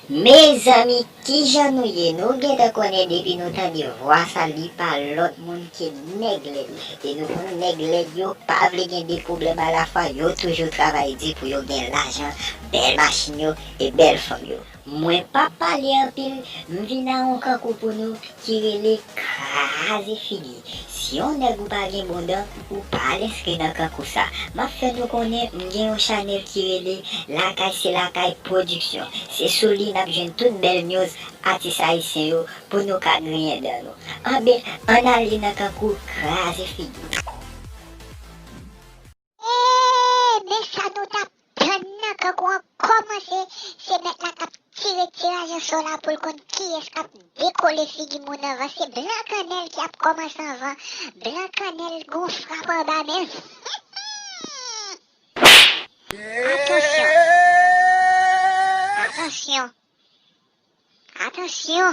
Mezanmi kijan nou ye nou gentan konnen depi nou tande vwa sa li pa lòt moun ke nèg lèd e nou konnen nèg lèd yo pa vle gen 2 pwoblèm alafwa yo toujou travay di pou yo gen lajan bèl machin yo e bèl fanm yo. Mwen pap pale anpil m vin a on kankou pou nou ki rele kraze figi si on nèg ou pa gen bon dan ou pa al enskri nan kankou sa map fè nou konnen m gen on chanèl ki rele lakay se lakay production se sou li nap jwenn tout bèl news atis ayisyen yo pou nou ka griyen dan nou anben ann ale nan kankou kraze figi. Eeeeee men sa nou tap tann nan kankou an kòmanse se mèt la kap tire tiraj osò la poul konn kiyès kap dekole figi moun anvan se blan kannèl ki ap kòmanse anvan blan kannèl gon frap anba menl huumm atansyon atansyon atansyon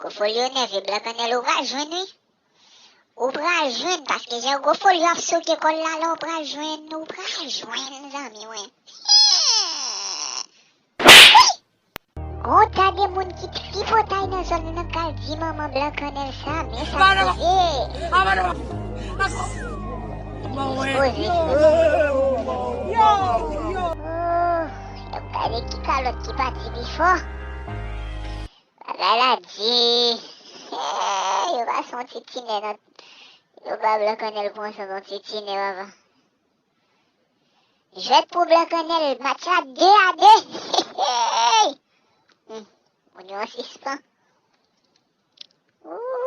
Gwo folyo nève blan kannèl ou pral jwenn wi ou pral jwenn paske jan gwo folyo ap souke kòl la la ou pral jwenn ou pral jwenn zanmi mwen Hee Wouuyy gon ta de moun ki tripotay nan zòn nan nan pral di manman blan kannèl sa men sak rive Hee Expoze Hee Ooh. Yo gade ki kalot ki pati pi fò. Bagay la di. Hey, yo ba son ti tine nan. Yo ba blan kanel pou an son ti tine baba. Jwet pou blan kanel, match la 2 a 2. Hey! Hmm, moun yo an sispan. Ouh!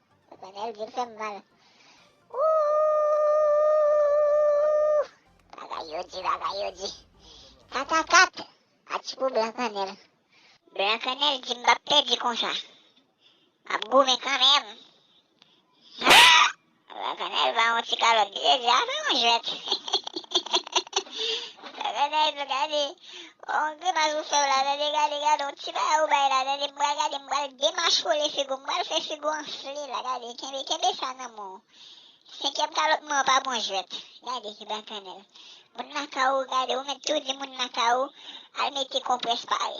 Bagay yo fem mal. Ooh! Bagay yo di, bagay yo di. 4 a 4. Ati pou blan kanel. Blan kanel di m pap pedi konsa. Map goumen kanmenm. Blan kanel ba yon ti kalot li te di a fè yon jwet. Blan kanel gade. Onk Grimas ou fèw la tande gade gade yon ti bagay ou bay la tande m pral gade m pral demachole figou m pral fè figou anfle la gade kenbe kenbe sa nan menw senkyèm kalòt mwen an pa bon jwèt gade ki bakanèl moun lakay ou gade ou mèt tou di moun lakay ou al mete konprès pare.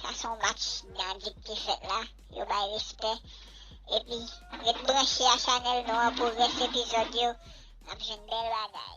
Sa son match Gagit ki fèt la, yo bay respè epi ret branche a chanèl nou an pou rès epizòd yo nap jwenn bèl bagay.